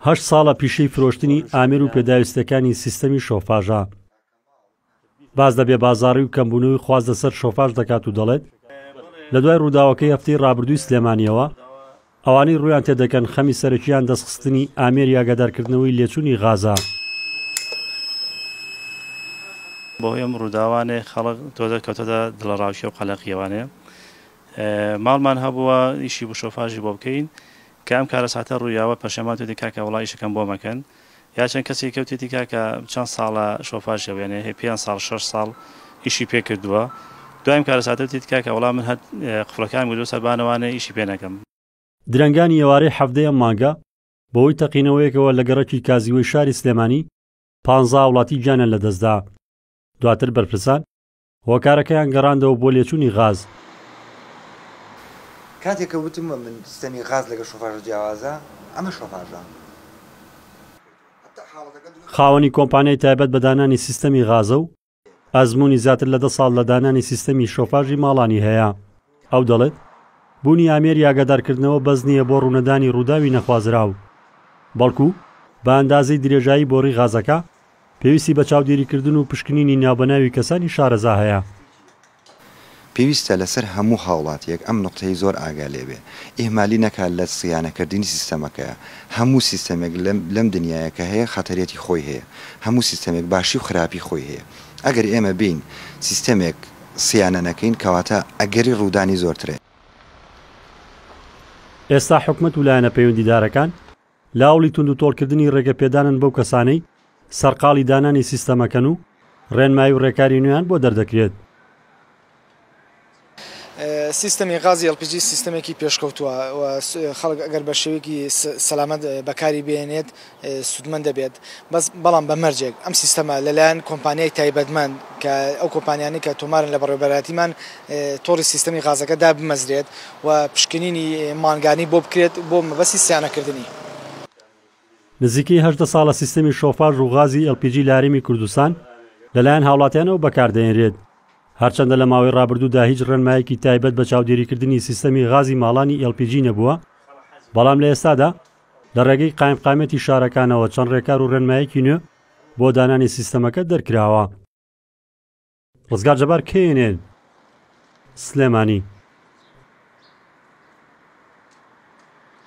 هەشت ساڵە پیشەی فرۆشتنی ئامێر و پێداویستەکانی سیستەمی شۆفاژە. باس لە بێبازاری و کەمبوونەوەی خواست لەسەر شۆفاژ دەکات و دەڵێت، لە دوای ڕووداوەکەی هەفتەی ڕابردووی سلێمانییەوە، ئەوانەی ڕوویان تێدەکەن خەمی سەرەکییان دەستخستنی ئامێری ئاگادارکردنەوەی لێچوونی غازە. بەهۆی ئەم ڕووداوانەی خەڵک تۆزێک کەوتۆتە دڵەڕاوکێ و قەلەقییەوانێ ماڵمان هەبووە ئیشی بشۆفاژی بۆ بکەین کە ئەم کارەساتە ڕوویاوە پەشێمان توێتی کاکە وەڵا ئیشەکەم بۆ مەکەن یا چەند کەسێکی کەوتێتی کاکە چەند ساڵە شۆفاژ هەبوو یانێ هەیە پێنج ساڵ شەش ساڵ ئیشی پێ کردووە دوایم کارەساتە وتێتی کاکە وەڵا من هەت قفڵەکانم گردووە سەر بانەوانێ ئیشی پێ نەکەم. درەنگانی ئێوارەی حەڤدەی ئەم مانگە، بەهۆی تەقینەوەیەکەوە لە گەڕەکی کازیوەی شاری سلێمانی، پانزا هاوڵاتی گیانیان لەدەستدا. دواتر بەرپرسان هۆکارەکەیان گەڕاندەوە بۆ لێچوونی غاز. کاتێک کە وتم من سیستەمی غاز لەگەڵ شۆفاژە جیاوازە، ئەمە شۆفاژە. خاوەنی کۆمپانیای تایبەت بە دانانی سیستەمی غازە و ئەزموونی زیاتر لە دە ساڵ لە دانانی سیستەمی شۆفاژی ماڵانی هەیە. ئەو دەڵێت، بوونی ئامێری ئاگادارکردنەوە بەس نییە بۆ ڕوونەدانی ڕووداوی نەخوازراو، بەڵکو بە ئەندازەی درێژایی بۆڕی غازەکە، پێویستی بە چاودێریکردن و پشکنینی ناوبەناوی کەسانی شارەزا هەیە. پێویستە لەسەر هەموو هاوڵاتییەک ئەم نوقتەی زۆر ئاگا لێ بێ، ئیهمالی نەکا لە سیانەکردنی سیستەمەکەیە. هەموو سیستەمێک لەم دنیایە کە هەیە خەتەرێتی خۆی هەیە. هەموو سیستەمێک باشی و خراپی خۆی هەیە. ئەگەر ئێمە بێین سیستەمێک. سیانە نەکەین کەواتە ئەگەری ڕوودانی زۆرترە. ئێستا حکومەت ولایەنە پەیوەندیدارەکان لە هەوڵی توندوتۆڵکردنی ڕێگەپێدانن بەو کەسانەی سەرقاڵی دانانی سیستەمەکەن و ڕێنمایی و ڕێکاری نوێیان بۆ دەردەکرێت. سیستەمی غازی LPG سیستەمێکی پێشکەوتووە و خەڵک ئەگەر بە شێوەیەکی سەلامەت بەکاری بهێنێت سوودمەند دەبێت بەس بەڵام بە مەرجێک ئەم سیستەمە لەلایەن کۆمپانیای تایبەتمەند کە ئەو کۆمپانیانەی کە تۆمارن لە بەڕێوەبەرایەتیمان تۆڕی سیستەمی غازەکە دابمەزرێت و پشکنینی مانگانی بۆ بکرێت بۆ مەبەستی سیانەکردنی. نزیکەی هەژدە ساڵە سیستەمی شۆفاژ و غازی ئێڵپیجی لە هەرێمی کوردستان لەلایەن هاوڵاتیانەوە بەکاردەهێنرێت، هەرچەندە لە ماوەی ڕابردوودا هیچ ڕێنمایەکی تایبەت بە چاودێریکردنی سیستەمی غازی ماڵانی ئێڵپیجی نەبووە، بەڵام لە ئێستادا لە ڕێگەی قایمقامیەتی شارەکانەوە چەند ڕێکار و ڕێنمایەکی نوێ بۆ دانانی سیستەمەکە دەرکراوە. ڕزگار جەبار knn، سلێمانی.